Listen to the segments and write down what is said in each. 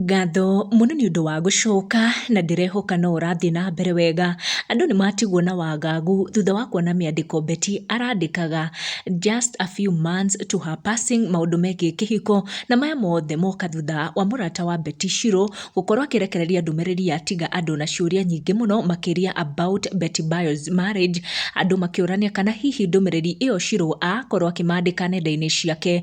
Ngatho mũno nĩ ũndũ wa gũcoka na ndĩrehoka no ũrathiĩ na mbere wega. Andũ nĩ matigwo na wagagu thutha wa kuona mĩandĩko Betty arandĩkaga just a few months to her passing maũndũ megiĩ kĩhiko na maya mothe moka thutha wa mũrata wa Betty Shirũ gũkorwo akĩrekereria ndũmĩrĩri ya tiga andũ na ciũria nyingĩ mũno makĩria about Betty Bayo's marriage. Andũ makĩũrania kana hihi ndũmĩrĩri ĩyo Shirũ akorwo akĩmandĩka nenda-inĩ ciake.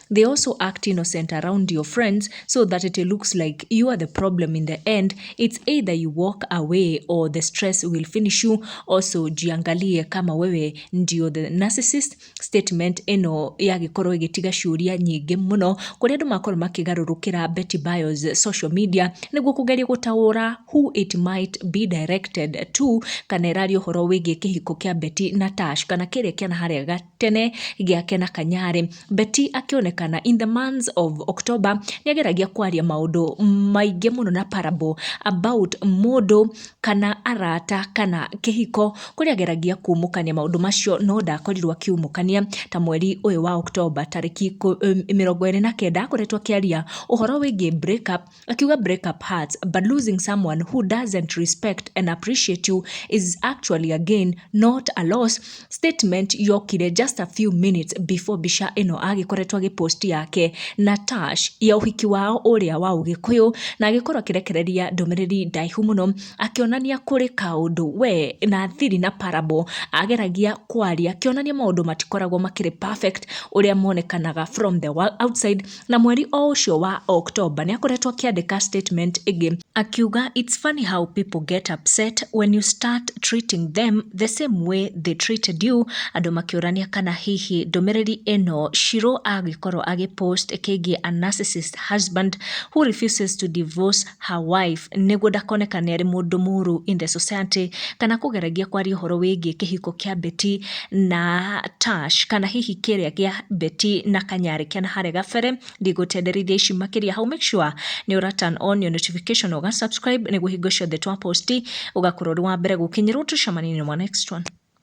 they also act innocent around your friends so that it looks like you are the problem in the end it's either you walk away or the stress will finish you also jiangalie kama wewe ndio the narcissist statement ĩno yagĩkorwo ĩgĩtiga ciũria nyingĩ mũno kũrĩa andũ makorwo makĩgarũrũkĩra Betty Bios social media nĩguo kũgeria gũtaũra who it might be directed to kana ĩraria ũhoro wĩgiĩ kĩhiko kĩa Betty na Tash kana kĩrĩa kĩana harĩa ga- tene gĩa Kena Kanyare. Betty akĩonekana in the months of October nĩ ageragia kwaria maũndũ maingĩ mũno na parable about mũndũ kana arata kana kĩhiko kũrĩa ageragia kumũkania maũndũ macio no ndakorirwo akiumũkania ta mweri ũyũ wa October tarĩki mĩrongo ĩrĩ na kenda akoretwo akĩaria ũhoro wĩgiĩ break up Akiuga break up hearts but losing someone who doesn't respect and appreciate you is actually a gain not a loss. Statement yokire just a few minutes before bica ĩno agĩkoretwo agĩpost yake na Tash ya ũhiki wao ũrĩa wa ũgĩkũyũ na agĩkorwo akĩrekereria ndũmĩrĩri ndaihu mũno akĩonania kũrĩ kaũndũ we na thiri na parable ageragia kwaria akĩonania maũndũ matikoragwo makĩrĩ perfect ũrĩa monekanaga from the outside Na mweri o ũcio wa October nĩ akoretwo akĩandĩka statement ĩngĩ akiuga it's funny how people get upset when you start treating them the same way they treated you, andũ makĩũrania kana hihi ndũmĩrĩri ĩno Shirũ agĩkorwo agĩ post kĩgiĩ a narcissist husband who refuses to divorce her wife nĩguo ndakonekane arĩ mũndũ mũru in the society kana kũgeragia kwaria ũhoro wĩgiĩ kĩhiko kĩa Betty na Tash kana hihi kĩrĩa gĩa Betty na Kanyarĩ kĩa na harĩa gabere ndigũtenderithia ici makĩria hau make sure nĩ ũra turn on your notification ũga subscribe nĩguo hingo ciothe twa post ũgakorwo ũrĩ wa mbere gũkinyĩrwo tucemanie in our next one